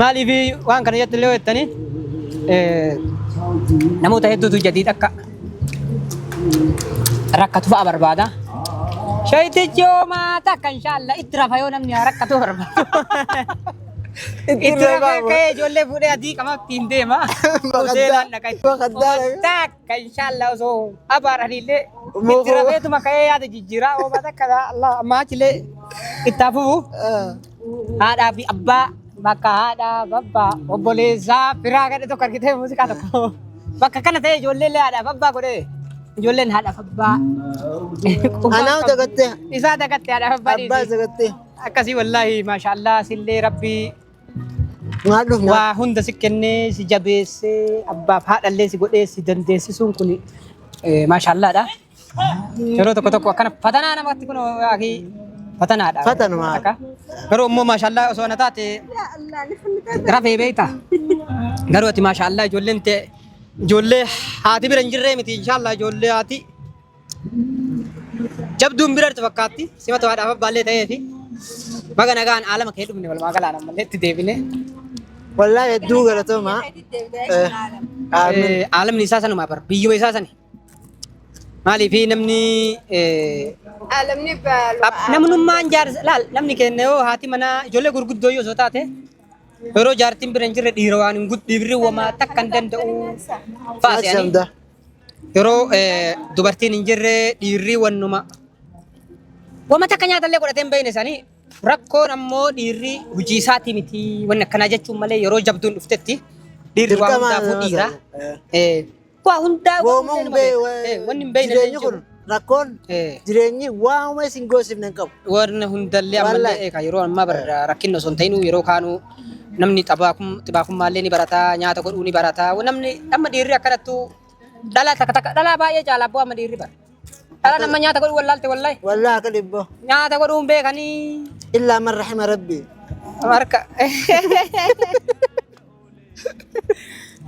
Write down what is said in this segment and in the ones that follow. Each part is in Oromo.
Maaliif waan kana jettu illee jettanii namoota hedduutu jadiid akka rakkatu fa'a barbaada. Shayitichi hoomaa takka inshaalla itti rafa yoo namni rakkatu barbaadu. Itti rafee ka'ee ijoollee fuudhee adii qamatti hin deema. Hoteelaan dhaqa. Bakka addaa. Takka. Ka inshallah osoo abaaraniillee Ummuu itti koo. rafeetuma ka'ee yaada jijjiiraa oobaa takka Allah ammaa achilee itti hafufu haadhaa fi abbaa bakka haadhaa babbaa obboleessaa firaa gadhe tokko argitee muuziqaa tokko bakka kana ta'e ijoollee illee haadhaaf abbaa godhe ijoolleen haadhaaf abbaa Anaa dagattee. isaa dagatte haadhaaf abbaa Abbaa dhiisi. dagattee. akkasii wallaahi maashaallah sillee rabbii Maal dhufna? Waa hunda si kennee si jabeessee abbaaf haadhallee si godhee si dandeessisuun kun maashaallaadha. Yeroo tokko tokko akkana fatanaa namatti kun akii fatanaadha. Fatanuma. Akka. Garuu immoo maashaallaa osoo na taate rafee beekta. Garuu ati maashaallaa ijoolleen tee ijoollee haati bira hin jirree miti inshaallah ijoollee haati Jabduun birarti fakkaatti simata waadhaaf abbaallee ta'ee fi baga nagaan aalama kee dhumne walumaa galaan ammallee itti deebine. Wallaa hedduu galatooma. Eh, Aalamni isaa sanuma bar biyyuma isaa sani. Maaliif namni eh, Alamni baalu. ab- namnummaan jaarsa laal namni keenya yoo haati manaa ijoollee gurguddoo yoo osoo taate yeroo jaartiin bira hin jirre dhiira waan hin guddifne wamaa takka hin danda'u. Faasiyanii. Shamda. Yeroo eh, dubartiin hin jirre dhiirri wannuma wama takka nyaatallee godhatee hin beekne sanii rakkoon ammoo dhiirri hojii isaatii miti wanni akkanaa jechuun malee yeroo jabduun dhuftetti dhiirri waa Dirqama hundaafuu nama dhiira. sana. Eh. Eh, Waa hundaa Goomuun bee- eh, wanni hin beekne jireenyi illee hin jiru. kun rakkoon jireenyi waanuma isin goosifne hin qabu. Warri hundallee ammallee eegaa yeroo ammaa bara rakkinni osoo hin ta'inuu yeroo kaanuu namni xibaakummaallee ni barataa nyaata godhuu ni barataa namni amma dhiirri akkanattu dhalaa takka takka dhalaa baay'ee caala abboo amma dhiirri bara. Dhala nama nyaata godhuu wallaalte wallahi. Wallah akka dhibboo. Nyaata godhuu hin beekanii. Illaa man rahima rabbii. Marka.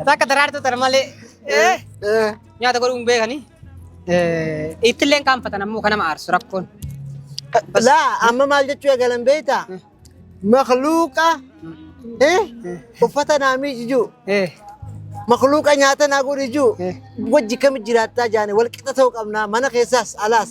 Takka daraartuu tana malee eh, Eh, nyaata godhuu hin beekanii. Eh, Ittillee hin qaanfatan ammoo kan nama aarsu rakkoon. laa amma maal jechuu eegalan beektaa? Makluuqa eh, uffata naa miijijuu Eh, makluuqa nyaata naa godhijuu eh. wajji kami jiraattaa jaane wal qixa ta'uu qabnaa mana keessaas alaas.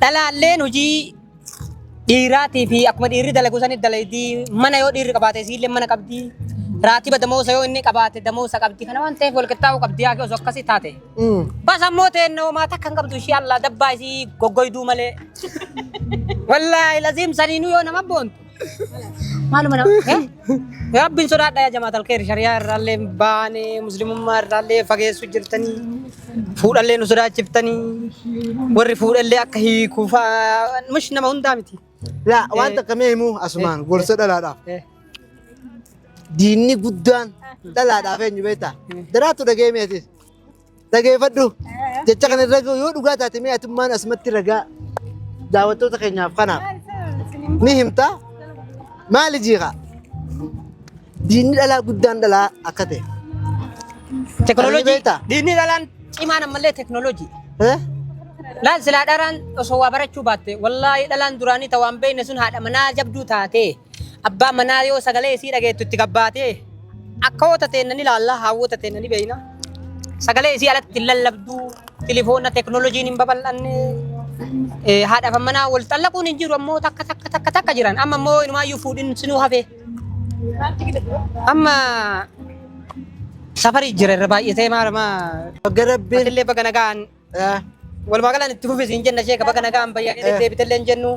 Dhalaalleen hojii dhiiraatii fi akkuma dhiirri dalagu sanitti dalaydii mana yoo dhiirri qabaate isiillee mana qabdi. Raatiba damoosa yoo inni qabaate damoosa qabdi. Kana waan ta'eef walqixxaa'uu qabdi yaa osoo akkasii taate. Bas ammoo teennoo maata kan qabdu ishee allaa dabbaa isii goggoyduu malee. Wallaahi laziim saniinuu yoo nama boontu. Maaluma nama Rabbiin sodaadha yaa jamaatal keeri shariyaa irraallee baane muslimummaa irraallee fageessu jirtanii fuudhallee nu sodaachiftanii warri fuudhallee akka hiiku fa'aa mush nama hundaa miti. Laa waan takka mee himuu asumaan gorsa dhalaadhaaf. Diinni guddaan dhalaadhaaf eenyu beektaa? Daraatu dhagee meetis. Dhageeffadhu. Jecha kana irra gahu yoo dhugaa taate mee atummaan asumatti ragaa daawwattoota keenyaaf kanaaf ni himta. Maali jiiqa? Diinni dhalaa guddaan dhalaa akka ta'e. Teknolojii. beektaa? Diinni dhalaan cimaan ammallee teknolojii. Eh? Laal silaa dharaan osoo waa barachuu baatte wallaahi dhalaan duraanii ta waan beekne sun haadha manaa jabduu taatee. Abbaan manaa yoo sagalee isii dhageettu itti gabbaatee akkawoota teenna ni laalla, haawwota teenna ni beeyna. Sagalee isii alatti hin lallabdu, tilifoonna teknooloojiin hin babal'anne. Eh, Haadhaaf manaa wal xallaquun hin jiru ammoo takka takka takka takka jiran. Amma immoo inumaayyuu fuudhin sinuu hafee. Amma safarii jira irra baay'atee maal maa Bagga rabbiin. Atillee baga nagaan Eh, walumaa galaan itti fufisiin jenna sheeka baga nagaan bayyadee Eh. deebitellee hin jennu.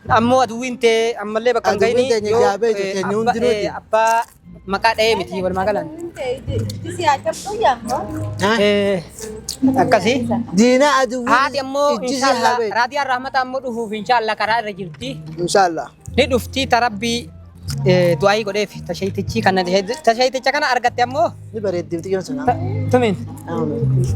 Ammoo aduwwiin tee ammallee bakka hin Aduwwiin ga'ini teenya yoo jaabee jirti, eenyu abba- hundinuu ti. eh, abbaa maqaa dha'ee miti walumaa galaan. Eh, Akkasii. Diina aduwwiin Haati ammoo ijjisi inshaallah habee. raadiyaan rahmataa ammoo dhufuuf inshaallah karaa irra jirti. Inshaallah. Ni dhufti tarabbii eh, du'aayii godheef tashayitichi kan tashayiticha kana argatte ammoo Ni bareeddi bitti jiran sana. tumiin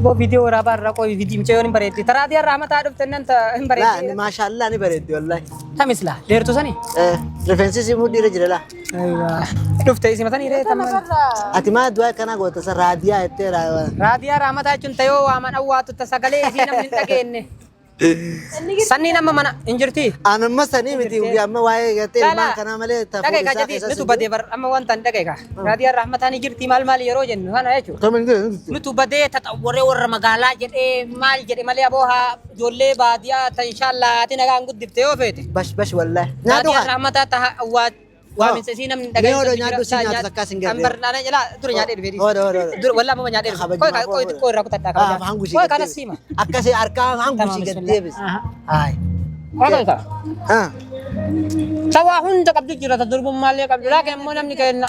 boo viidiyoo waraabaa irraa qoyi viidiyoo mucayyoon hin bareeddi taraa diyaa rahmataa dhufte nan ta hin Laa bareeddi maashaallah ni bareeddi wallahi. tamis laa dheertu sani Eh, Rifeensi si mudhii irra jira laa. dhufte isi matanii ree tamma Ati maa du'aa akkanaa goota sa raadiyaa jettee raa. raadiyaa rahmataa jechuun tayoo waaman awwaatu ta sagalee isii namni hin dhageenye Sanniin amma mana hin jirti. An amma sanii miti Jirti. guyyaa amma waa'ee gartee Laala. ilmaan kanaa malee ta'uu Dhaga'i isaa kaa jedhi keessa nutu badee bar amma waan ta'an dhaga'i kaa. Raadiyaan rahmataa ni jirti maal maal yeroo jennu kana jechuudha. Kam hin jiru. Nutu badee taxawwaree warra magaalaa jedhee maal jedhe malee aboo haa ijoollee baadiyaa tan shaallaa haati nagaan guddifte yoo feete. Bash bash wallahi. Nyaatu Raadiyaan kaa. rahmataa taha awwaat Waaminsa isii namni dhagaa'e. Mee odoo nyaadhu isii nyaatu takkaa sin garree. Ambar naana jalaa dura nyaadhee dhufee. Odo odo. Dura walaa mama nyaadhee dhufe. Koi kaa koi xiqqoo irraa kutadhaa kaa. Haa hangu ishee. Koi kanas siima. Akkasii harkaa hangu ishee gad deebis. Haay. Koi kaa. Haa. Sawaa hunda qabdu jira ta durbummaallee qabdu laakiin immoo namni kenna.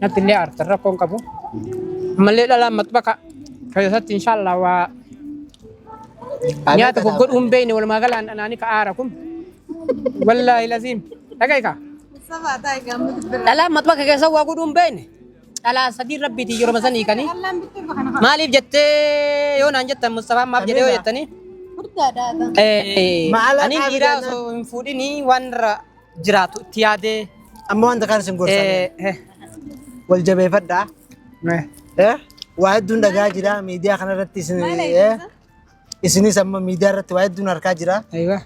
Natti illee aartan rakkoon qabu. Ammallee dhalaan maxbaka keessatti inshaallah waa nyaata goggodhu hin beekne walumaa galaan dhanaanii ka aara kun. Wallaahi laziim. Dhaga'i kaa. Dhalaan maxbaka keessa waa godhu hin beekne. Dhalaa sadii rabbiitiin yeroo masan hiikanii. Maaliif jettee yoo naan jettan Mustafaan maaf jedhee yoo jettanii? Eh, Maala ani qabu dhiiraa jennaan. osoo hin fuudhinii waan irra jiraatu itti yaadee Amma wanta kana isin gorsa. eh, eh, Wal jabeeffadhaa. eh, Eh? Waa hedduun dhagaa jira miidiyaa kanarratti isin eh? isinis amma miidiyaa irratti waa hedduun harkaa jira. aywa.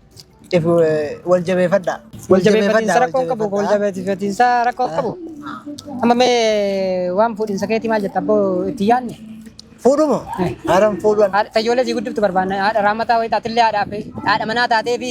If, eh, Wal jabeeffadhaa. Wal jabeeffatiinsa rakkoo qabu wal jabeeffatiinsa rakkoo qabu. Amma mee waan fuudhinsa keetii maal jetta abboo itti yaadne. Fuudhumo. Haadhan fuudhan. Haadha- Fayyoolee sii guddiftu barbaanna. Haadha raammataa wayii taatillee haadhaa fi haadha manaa taatee fi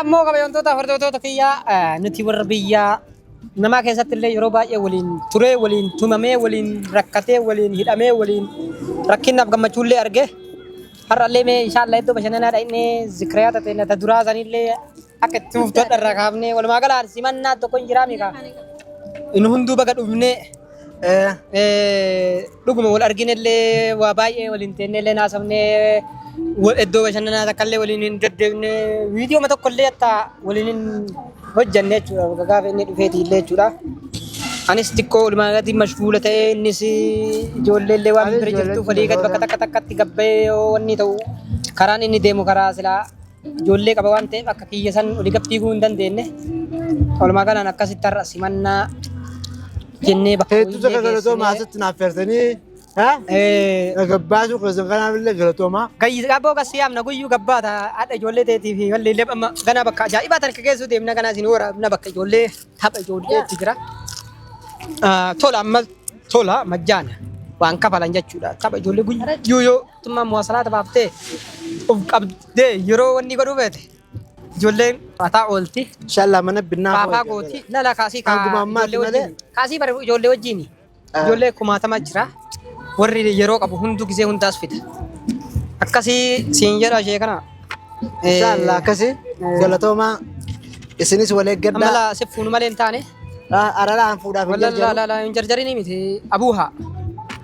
Ammoo kabajamtoota hordoftoota kiyyaa eh, nuti warra biyyaa namaa keessatti illee yeroo baay'ee waliin turee waliin tumamee waliin rakkatee waliin hidhamee waliin rakkinnaaf gammachuu illee arge har'allee mee inshaallah iddoo bashannanaa dhaqnee zikriyaa tatee nata duraa sanillee akka itti fuftoota irraa kaafnee walumaa galaan simannaa tokko hin jiraamikaa inni hunduu baga dhufnee Dhuguma wal arginellee waa baay'ee waliin teennellee naasofnee iddoo bashannanaa takkaallee waliin hin deddeebine viidiyooma tokkollee hatta waliin hin hojjanne jechuudha. Gaafa inni dhufeeti illee jechuudha. Anis xiqqoo walumaa galatti mashguula ta'ee innis ijoolleellee waan bira jirtuuf walii gad bakka takka takkatti gabbayee yoo wanni ta'u karaan inni deemu karaa silaa Ijoollee qaba waan ta'eef akka kiyya san oli gad fiiguu hin dandeenye. Walumaa galaan akkasitti har'a simannaa jennee bakka Hedduu takka galatooma asitti naaf feertanii. Gabbaasuu keessan kanaaf illee galatooma. Gayyis gabboo gassi yaamna guyyuu gabbaa ta'a haadha ijoollee teetii fi wallee illee amma ganaa bakka ajaa'ibaa tan keessuu deemna ganaa isin waraabna bakka ijoollee tapha ijoollee itti jira. Tola amma tola majjaana waan kafalan jechuudha tapha ijoollee guyyuu yoo Mootummaan muwaasalaata baaftee of qabdee yeroo wanni godhuu feete ijoolleen ataa oolti. Inshallah mana binnaa Faafaa gooti lala kaasii kaa Hanguma ammaati ijoollee malee. wajjin kaasii bari ijoollee wajjin ijoollee kumaatama jira warri yeroo qabu hunduu gisee hundaas fida akkasii siin jedha ishee kana eh, Inshallah akkasi galatoomaa isinis wal eeggadhaa. amala si fuunu malee hin taane Araraan fuudhaaf hin walla la jarjaru. la la hin jarjarinii miti abuuhaa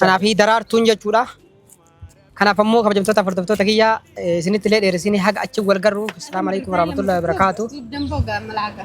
Kanaa fi daraartuun jechuudha. Kanaaf ammoo kabajamtoota hordoftoota kiyyaa isinitti illee dheeressine haga achi wal garru. Assalaamu alaikum warahmatullahi wabarakatuh. Damboo gaammalaaga.